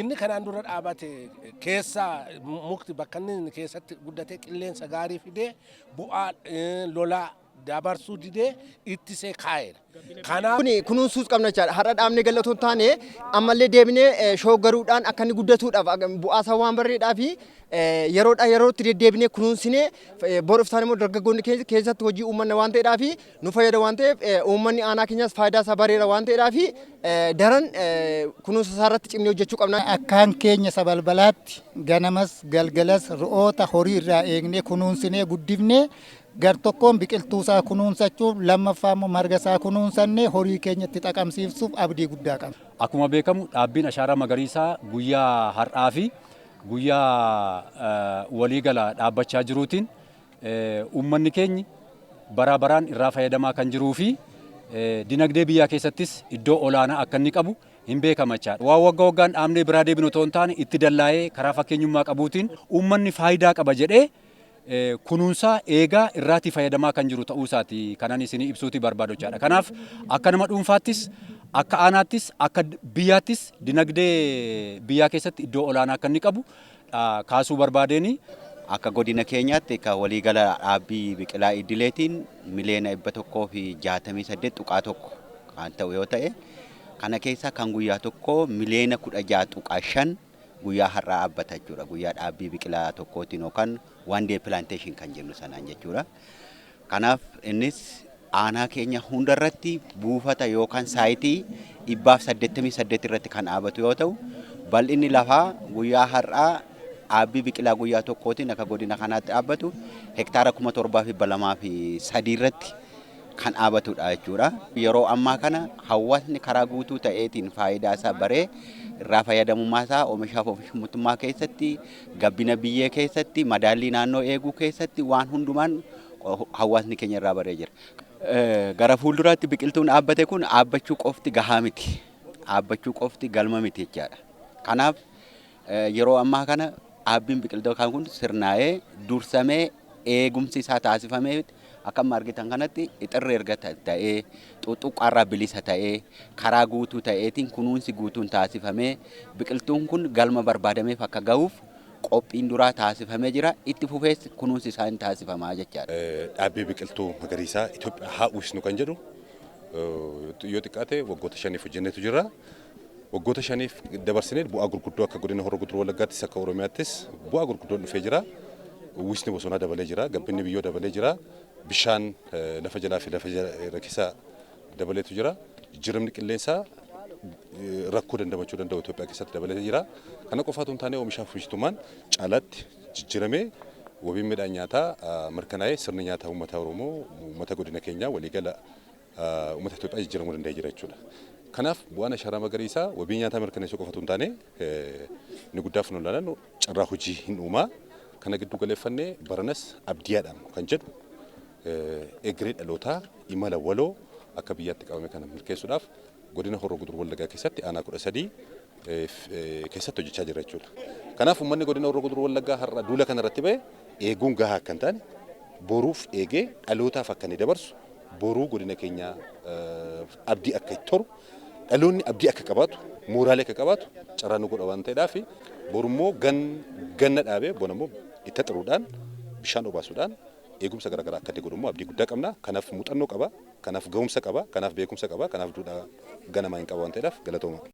Inni kanaan dura dhaabate keessa mukti bakka inni keessatti guddate qilleensa gaarii fidee bu'aa lolaa dabarsuu didee ittisee kaa'eera. Kanaaf Kuni kunuunsuus qabna jechaadha. Har'a dhaabnee galla otoo hin taane ammallee deebinee eh, shooggaruudhaan akka inni guddatuudhaaf akka- bu'aasaa waan barreedhaa fi eh, yeroodhaa yerootti deddeebinee kunuunsinee eh, bor iftaan immoo dargaggoonni keenya keessatti hojii uummanna waan ta'eedhaa fi nu fayyada waan ta'eef uummanni aanaa keenyaas faayidaa isaa bareera waan ta'eedhaa fi daran kunuunsa isaa irratti cimnee hojjechuu qabna. Akkaan keenya sabalbalaatti ganamas galgalas re'oota horii irraa eegnee kunuunsinee guddifnee gar tokkoon biqiltuu isaa kunuunsachuuf lammaffaa immoo marga isaa kunuunsannee horii keenya itti xaqamsiifsuuf abdii guddaa qabna. Akkuma beekamu dhaabbiin ashaaraa magariisaa guyyaa har'aa fi guyyaa waliigala dhaabbachaa jiruutiin uummanni keenyi baraa baraan irraa fayyadamaa kan jiruu fi dinagdee biyyaa keessattis iddoo olaanaa akka inni qabu hin beekama jechaadha. Waan wagga waggaan dhaabnee biraa deebinu otoo hin taane itti dallaa'ee karaa fakkeenyummaa qabuutiin uummanni faayidaa qaba jedhee kunuunsaa eegaa irraatii fayyadamaa kan jiru ta'uu isaati kanan isinii ibsuuti barbaadu jechaadha. Kanaaf akka nama dhuunfaattis akka aanaattis akka biyyaattis dinagdee biyyaa keessatti iddoo olaanaa akka inni qabu kaasuu barbaadeen akka godina keenyaatti akka waliigala dhaabbii biqilaa idileetiin miliyoona 168.1 kan ta'u yoo ta'e kana keessaa kan guyyaa tokko miliyoona 16.5 guyyaa har'aa dhaabbata jechuudha. Guyyaa dhaabbii biqilaa tokkootiin yookaan one day plantation kan jennu sanaan jechuudha. Kanaaf innis aanaa keenya hunda irratti buufata yookaan saayitii 188 irratti kan dhaabatu yoo ta'u, bal'inni lafaa guyyaa har'aa dhaabbii biqilaa guyyaa tokkootiin akka godina kanaatti dhaabbatu hektaara 7203 irratti kan dhaabatudha jechuudha. Yeroo ammaa kana hawaasni karaa guutuu ta'eetiin faayidaa isaa baree irraa fayyadamummaa isaa omishaaf omishmtummaa keessatti Gabbina biyyee keessatti, madaallii naannoo eeguu keessatti waan hundumaan hawaasni keenya irraa baree jira. Gara fuulduraatti biqiltuun dhaabbate kun dhaabbachuu qofti gahaa miti. Dhaabbachuu qofti galma miti jechaadha. Kanaaf yeroo ammaa kana dhaabbiin biqiltootaa kun sirnaa'ee dursamee eegumsi isaa taasifameefitti akka amma argitan kanatti ixirri erga ta'ee xuxuqqaarraa bilisa ta'ee karaa guutuu ta'eetiin kunuunsi guutuun taasifamee biqiltuun kun galma barbaadameef akka gahuuf qophiin duraa taasifamee jira itti fufees kunuunsi isaa hin taasifamaa jechaadha. Dhaabbii biqiltuu magariisaa Itoophiyaa haa uwwisnu kan jedhu yoo xiqqaate waggoota shaniif hojjennetu jira. Waggoota shaniif dabarsine bu'aa gurguddoo akka godina Horroo Guduruu Wallaggaattis akka Oromiyaattis bu'aa gurguddoon dhufee jira. Uwwisni bosonaa dabalee jira, gabbinni biyyoo dabalee jira, bishaan lafa jalaa fi lafa irra keessa dabaleetu jira. Jijjiiramni qilleensaa rakkoo dandamachuu danda'u Itoophiyaa keessatti dabalee jira. Kana qofaa utuu hin taane oomishaa fi oomishtummaan caalaatti jijjiiramee wabiin midhaan nyaataa mirkanaa'ee sirni nyaataa uummataa Oromoo uummata godina keenyaa waliigala uummata Itoophiyaa jijjiiramuu danda'ee jira jechuudha. Kanaaf bu'aan ashaaraa magariisaa wabii nyaataa mirkaneessuu qofa utuu hin taane inni guddaa funuun ilaalan carraa hojii hin uumaa kana gidduu galeeffannee baranas abdiyaadhaan kan jedhu egeree dhalootaa imala waloo akka biyyaatti qabame kana milkeessuudhaaf godina Horroo Guduruu Wallaggaa keessatti aanaa kudha sadii keessatti hojjechaa jira jechuudha. Kanaaf uummanni godina Horroo Guduruu Wallaggaa har'a duula kana irratti ba'e eeguun gahaa akka hin taane boruuf eegee dhalootaaf akka inni dabarsu boruu godina keenyaa abdii akka itti horu dhaloonni abdii akka qabaatu mooraalee akka qabaatu carraa nu godha waan ta'eedhaaf boru immoo ganna dhaabee bona immoo itti xiruudhaan bishaan obaasuudhaan eegumsa garaagaraa akka godhu immoo abdii guddaa qabna kanaaf muuxannoo qaba kanaaf ga'umsa qaba kanaaf beekumsa qaba kanaaf duudhaa ganamaa hin qaba waan ta'eedhaaf galatooma.